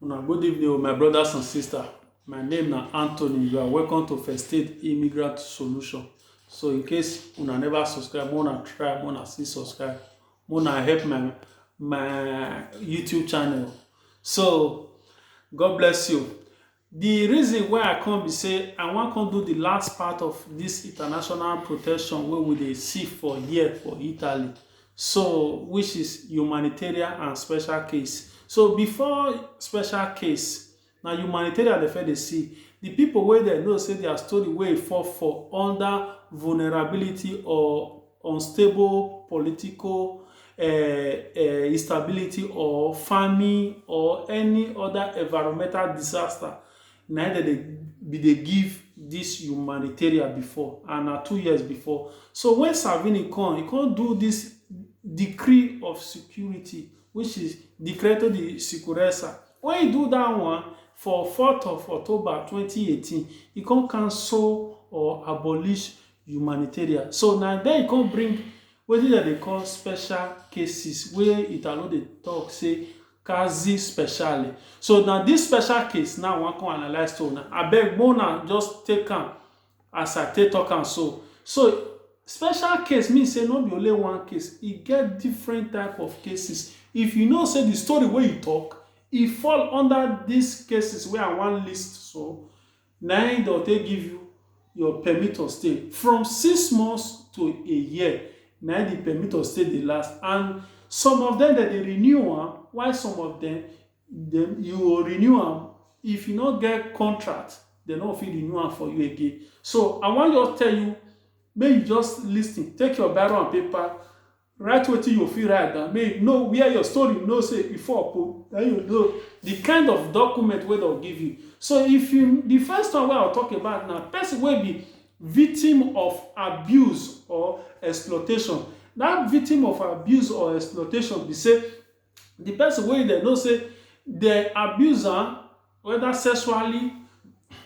Una good evening, oh, my brothers and sisters. My name na Anthony. You are welcome to First Aid Immigrant Solution. So in case una never subscribe, wanna try, wanna see subscribe, wanna help my my YouTube channel. So God bless you. Di reason why I come be say I wan come do di last part of dis international protection wey we dey see for here for Italy so which is humanitarian and special case. So before special case, na humanitarian dem first dey see. Di pipo wey dem know say dia story wey e fall for under vulnerability or. unstable political instability or farming or any other environmental disaster na im dem dey be dey give this humanitarian before and na two years before so when Salvini come, e come do this decree of security which is decreto di sicurezza when e do that one for fourth of October twenty eighteen e come cancel or abolish humanitarian so na then e come bring wetin dem dey call special cases wey Italo dey talk say casi speciale so na this special case now I wan come analyse to una abeg make una just take am as I take talk am so so special case mean say no be only one case e get different type of cases if you know say the story wey you talk e fall under this cases wey I wan list so Na im dem go take give you your permit of stay from six months to a year na im the permit of stay dey last and some of dem dem dey renew am while some of dem dem you go renew am if you no get contract dem no go fit renew am for you again so I wan just tell you make you just lis ten take your biro and paper Write wetin yo fit write down make you know where your story know say e for po. Then you know the kind of document wey dem give you. So if you the first one wey I talk about na person wey be victim of abuse or exploitation. That victim of abuse or exploitation be say di person wey dem know say dem abuse am weda sexually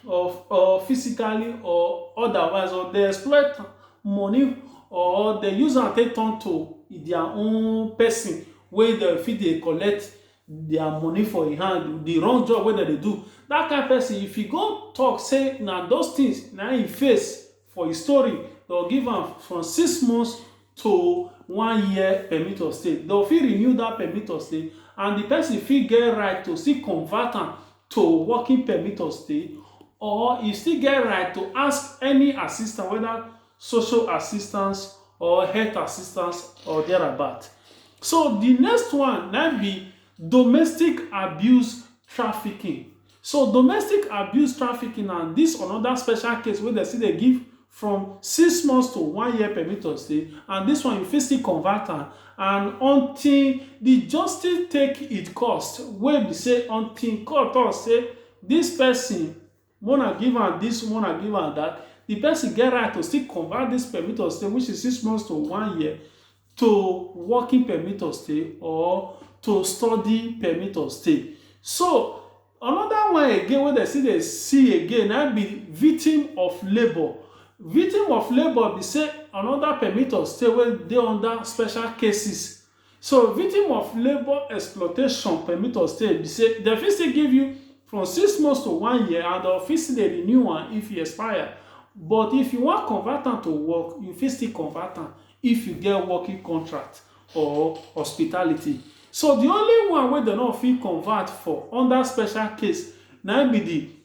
or or physically or otherwise or dem exploit am money or dem use am take turn to dia own person wey dem fit dey collect dia money for im hand, di wrong job wey dem dey do, dat kain person if e go talk say na those things na im e face For e story, dem give am from six months to one year permit of stay. Dem fit renew dat permit of stay and di pesin fit get right to still convert am to working permit of stay or e still get right to ask any assistance weda social assistance or health assistance or thereabout. So di next one na im be domestic abuse trafficking. So domestic abuse trafficking na dis anoda special case wey dem still dey give from six months to one year permit of stay and dis one you fit still convert am and until di justice take it course wey be say until court tok say dis pesin make una give am dis make una give am dat di pesin get right to still convert dis permit of stay which is six months to one year to working permit of stay or to study permit of stay. So, another one again wey dem still dey see again na im be victim of labour. Victim of labour be sey another permit of stay wey dey under special cases. So, victim of labour exploitation permit of stay be sey dem fit still give you from six months to one year and dem fit still dey renew am if e expire. But if you wan convert am to work, you fit still convert am. if you get working contract or hospitality. So di only one wey dem no fit convert for under special case na im be di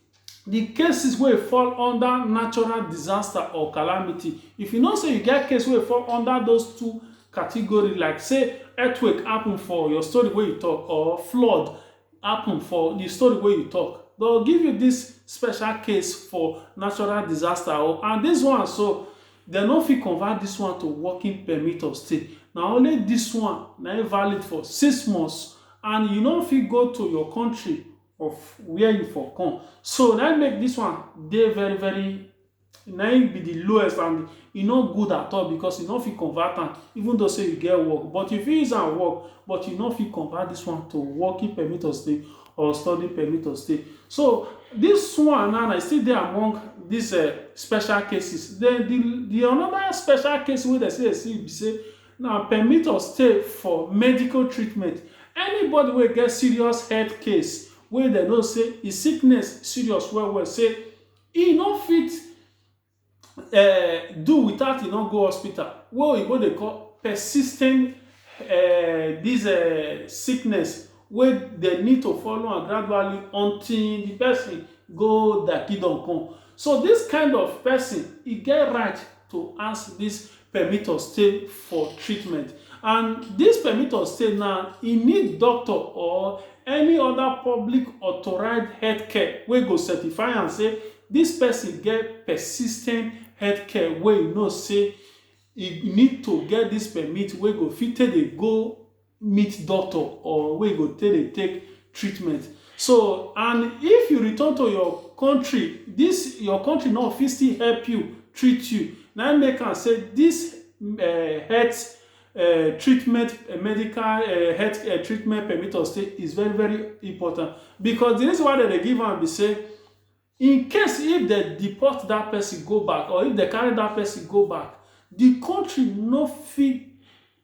di cases wey fall under natural disaster or calamity. If you know sey you get case wey fall under those two category like sey earthquake happen for your story wey you talk or flood happen for di story wey you talk, dem go give you dis special case for natural disaster o and dis one so, Dem no fit convert dis one to working permit of stay, na only dis one na im valid for six months and you no fit go to your country of where you for come. So na im make dis one dey very very na im be di lowest and e no good at all because you no fit convert am even though sey you get work but you fit use am work but you no fit convert dis one to working permit of stay. or study permit or stay so dis one now na still dey among dis um special cases den di di anoda special case wey dem still dey see be sey na permit of stay for medical treatment anybody wey get serious health case wey dem know sey di sickness serious well well sey e no fit um do without e no go hospital wey oyinbo dey call persistent um dis um sickness wey dem need to follow am gradually until the person go dakido kon. So dis kind of person, e get right to ask dis permit of stay for treatment and dis permit of stay na e need doctor or any oda public authorized health care wey go certify am say dis pesin get persistent health care wey e know say e need to get dis permit wey go fit take dey go meet doctor or wey you go take dey take treatment. So and if you return to your country, dis your country now fit still help you treat you. Na im make am say dis um health um treatment um medical um health um treatment permit of stay is very very important because de reason why dem dey give am be sey In case if dem deport dat pesin go back or if dem carry dat pesin go back, di kontri no fit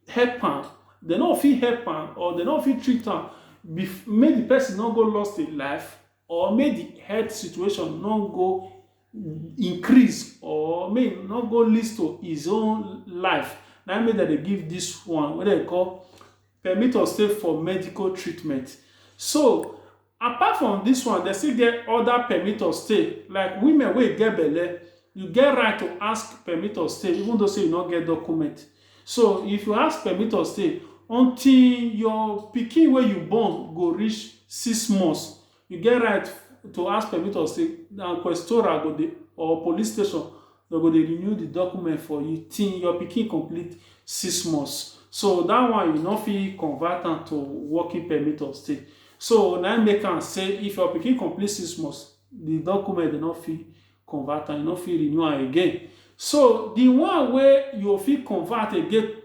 help am, dem no go fit help am or dem no go fit treat am make di pesin no go lost im life or make di health situation no go increase or make e no go leads to his own life. Na im make dem dey give dis one wey dem dey call permit of stay for medical treatment. So Apart from dis one, dem still get oda permit of stay like women wey get belle, you get right to ask permit of stay even though say you no get document. So if you ask permit of stay, until your pikin wey you born go reach six months, you get right to ask permit of stay and questora go dey or police station Dem go dey renew the document for you till your pikin complete six months. So that one you no fit convert am to working permit of stay. So na im make am say if your pikin complete six months, the document dem no fit convert am, you no fit renew am again. So the one wey you go fit convert again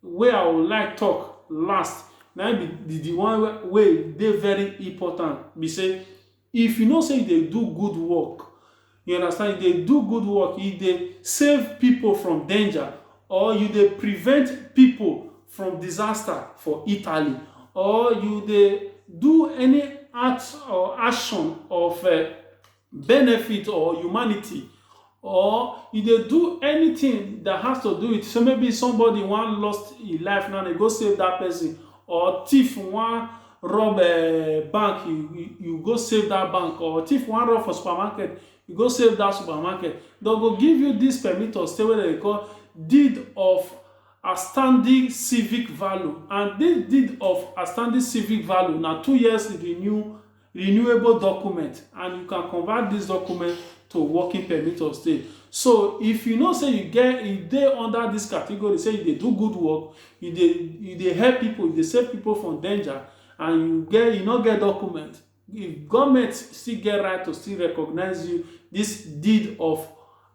wey I would like talk last na im be the one wey dey very important be say, If you know say you dey do good work, you understand, you dey do good work, you dey save pipo from danger or you dey prevent pipo from disaster for Italy or you dey do any act or action of benefit or humanity Or e dey do anything that has to do with say maybe somebody wan lost e life now dey go save that person or thief wan rob um bank you go save that bank or thief wan rob for supermarket you go save that supermarket dem go give you this permit of stay wey dem dey call deed of outstanding civic value and this deed of outstanding civic value na two years renew renewable document and you can convert this document to working permit of stay so if you know say you get you dey under this category say you dey do good work you dey you dey help people you dey save people from danger and you get you no get document if government still get right to still recognize you this deed of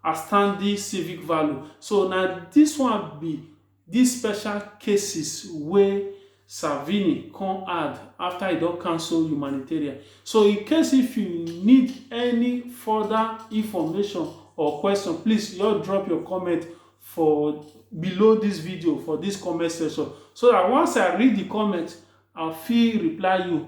outstanding civic value so na this one be Dis special cases wey Salvini come add afta e don cancel humanitarian. So in case if you need any further information or question, please just drop your comment for below dis video for dis comment section so dat once I read di comment, I fit reply you